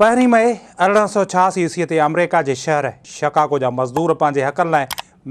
پهرين مئي ارڙهن سؤ ڇهاسي عيسويء تي آمريڪا جي شهر شڪاگو جا مزدور پنهنجي حقن لاء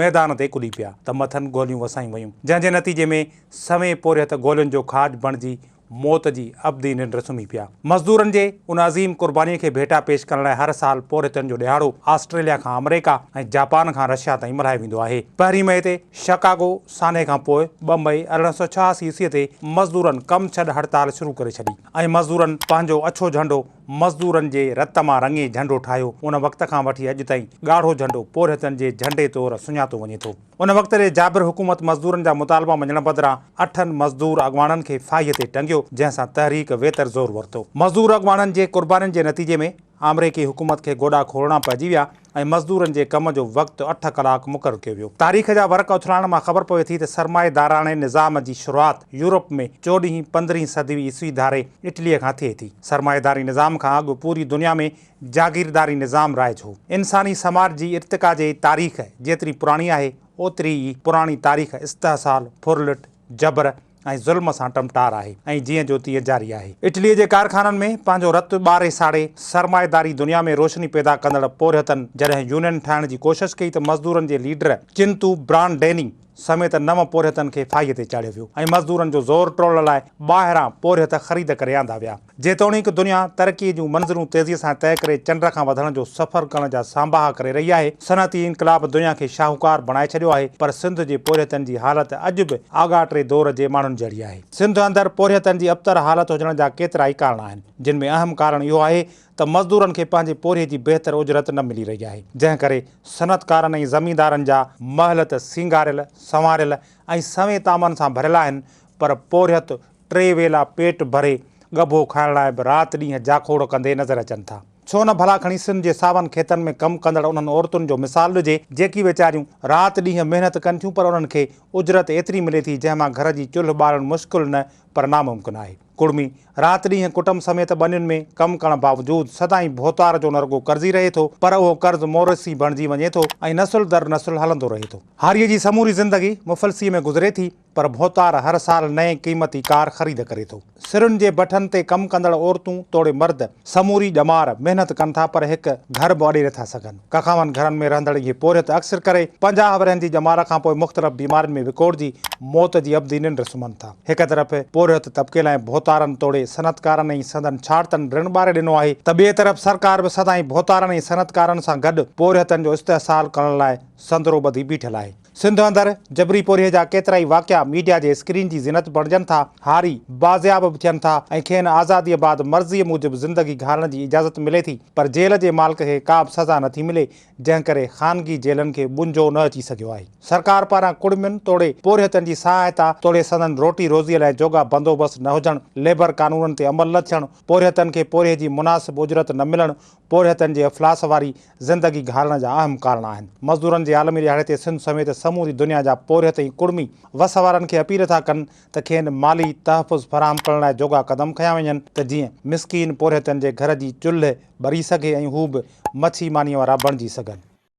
ميدان تي ڪڏي پيا ته مٿن گوليون وسايون ويون جنهن جي نتيجي ۾ سوين پورهيت گولين جو کاڄ بڻجي موت جي ابدي ننڊ سمهي پيا. مزدورن جي ان عظيم قربانيء کي ڀيٽا پيش ڪرڻ لاء هر سال پورهيتن جو ڏهاڙو آسٽريليا کان آمريڪا ۽ جاپان کان رشيا تائين ملهايو ويندو آهي. پهرين مئي تي شڪاگو سانحي کان پوء ٻه مئي ارڙهن سؤ ڇهاسي عيسويء تي مزدورن ڪم ڇڏ هڙتال شروع ڪري ڇڏي. ۽ مزدورن پنهنجو اڇو جهنڊو مزدورن جي رت مان رڱي جهنڊو ٺاهيو. ان وقت کان وٺي اڄ تائين ڳاڙهو جهنڊو پورهيتن جي جهنڊي طور سڃاتو وڃي ٿو. ان وقت ري جابر حڪومت مزدورن جا مطالبا مڃڻ بدران اٺن مزدور اڳواڻن کي ڦاهيء تي ٽنگيو، جنهن سان تحريڪ ويتر زور ورتو. مزدور اڳواڻن جي قربانين جي نتيجي ۾ آمريڪي حڪومت کي گوڏا کولڻا پئجي ويا ۽ ۽ مزدورن جي ڪم جو وقت اٺ ڪلاڪ مقرر ڪيو ويو. تاريخ جا ورق اٿلائڻ مان خبر پوي ٿي ته سرمائيداراڻي نظام جي شروعات يورپ ۾ چوڏهين پندرهين صدوي عيسوي ڌاري اٽليء کان ٿئي ٿي. سرمائيداري نظام کان اڳ پوري دنيا ۾ جاگيرداري نظام رائج هو. انساني سماج جي ارتقا جي تاريخ جيتري پراڻي آهي، اوتري ئي پراڻي تاريخ استحصال، ڦرلٽ، جبر، ۽ ظلم سان ٽمٽار آهي ۽ جيئن جو تيئن جاري آهي. اٽليء جي ڪارخانن ۾ پنهنجو رت ٻاري ساڙي سرمائيداري دنيا ۾ روشني پيدا ڪندڙ پورهيتن جڏهن يونين ٺاهڻ جي ڪوشش ڪئي ته مزدورن جي ليڊر چنتو برانڊيني سميت نو پورهيتن کي ڦاهيء تي چاڙهيو ويو ۽ مزدورن جو زور ٽوڙڻ لاء ٻاهران پورهيت خريد ڪري آندا ويا. جيتوڻيڪ دنيا ترقي جون منزلون تيزي سان طئي ڪري چنڊ کان وڌڻ جو سفر ڪرڻ جا سانباها ڪري رهي آهي، صنعتي انقلاب دنيا کي شاهوڪار بڻائي ڇڏيو آهي، پر سنڌ جي پورهيتن جي حالت اڄ به آڳاٽي دور جي ماڻهن جهڙي آهي. سنڌ اندر پورهيتن جي ابتر حالت هجڻ جا ڪيترائي ڪارڻ آهن، جن ۾ اهم ڪارڻ اهو آهي ته مزدورن کي پنهنجي پورهيي جي بهتر اجرت نه ملي رهي آهي، جنهن ڪري صنعتڪارن ۽ زميندارن جا. محل ته سينگاريل، سنواريل ۽ سوين تامن سان ڀريل آهن، پر پورهيت ٽي ويلا پيٽ ڀري ڳڀو کائڻ لاء به رات ڏينهن جاکوڙ ڪندي نظر اچن ٿا. ڇو نه ڀلا کڻي سنڌ جي ساون کيتن ۾ ڪم ڪندڙ انهن عورتن جو مثال ڏجي، جيڪي ويچاريون رات ڏينهن محنت ڪن ٿيون پر انهن کي اجرت ايتري ملي ٿي جنهن مان گهر جي چلهه ٻارڻ مشڪل نه پر ناممڪن آهي. ڪڙمي رات ڏينهن ڪٽنب سميت ٻنين ۾ ڪم ڪرڻ باوجود سدائين ڀوتار جو نه رڳو قرضي رهي ٿو پر اهو قرض مورثي بڻجي وڃي ٿو ۽ نسل در نسل هلندو رهي ٿو. هاريء جي سموري زندگي مفلسيء ۾ گذري ٿي. پر ڀوتار هر سال نئين قيمتي ڪار خريد ڪري ٿو. سرن جي بٺن تي ڪم ڪندڙ عورتون توڙي مرد سموري ڄمار محنت ڪن ٿا پر هڪ گهر به اڏي نٿا سگهن. ڪکاون گهرن ۾ رهندڙ اهي پورهيت اڪثر ڪري پنجاهه ورهين جي ڄمار کان پوء مختلف بيمارين ۾ وڪوڙجي موت جي ابدي ننڊ سمهن ٿا. هڪ طرف پورهيت طبقي لاء ڀوتارن توڙي صنعتڪارن ۽ سندن ڇاڙتن رڻ ٻاري ڏنو آهي ته ٻئي طرف سرڪار به سدائين ڀوتارن ۽ صنعتڪارن سان گڏ پورهيتن جو استحصال ڪرڻ لاء سندرو ٻڌي بيٺل آهي. سنڌ اندر جبري پورهيي جا ڪيترائي واقعا ميڊيا جي اسڪرين جي زينت بڻجن ٿا، هاري بازياب به ٿين ٿا ۽ کين آزاديء بعد مرضيء موجب زندگي گهارڻ جي اجازت ملي ٿي پر جيل جي مالڪ کي ڪابه سزا نه ٿي ملي جنهن ڪري خانگي جيلن کي ٻنجو نه اچي سگهيو آهي. سرڪار پاران ڪڙمين توڙي پورهيتن جي سهائتا توڙي سندن روٽي روزيء لاء جوڳا بندوبست نه هجڻ، ليبر قانونن تي عمل نه ٿيڻ، پورهيتن کي پورهيي جي مناسب اجرت نه ملڻ، پورهيتن جي افلاس واري زندگي گهارڻ جا اهم ڪارڻ آهن. مزدورن جي عالمي ڏهاڙي تي سنڌ سميت سموري دنيا جا پورهيت ۽ ڪڙمي وس وارن کي اپيل ٿا ڪن ته کين مالي تحفظ فراهم ڪرڻ لاء جوڳا قدم کنيا وڃن ته جيئن مسڪين پورهيتن جي گهر جي چلهه ٻري سگهي ۽ هو به مڇي مانيء وارا بڻجي سگهن.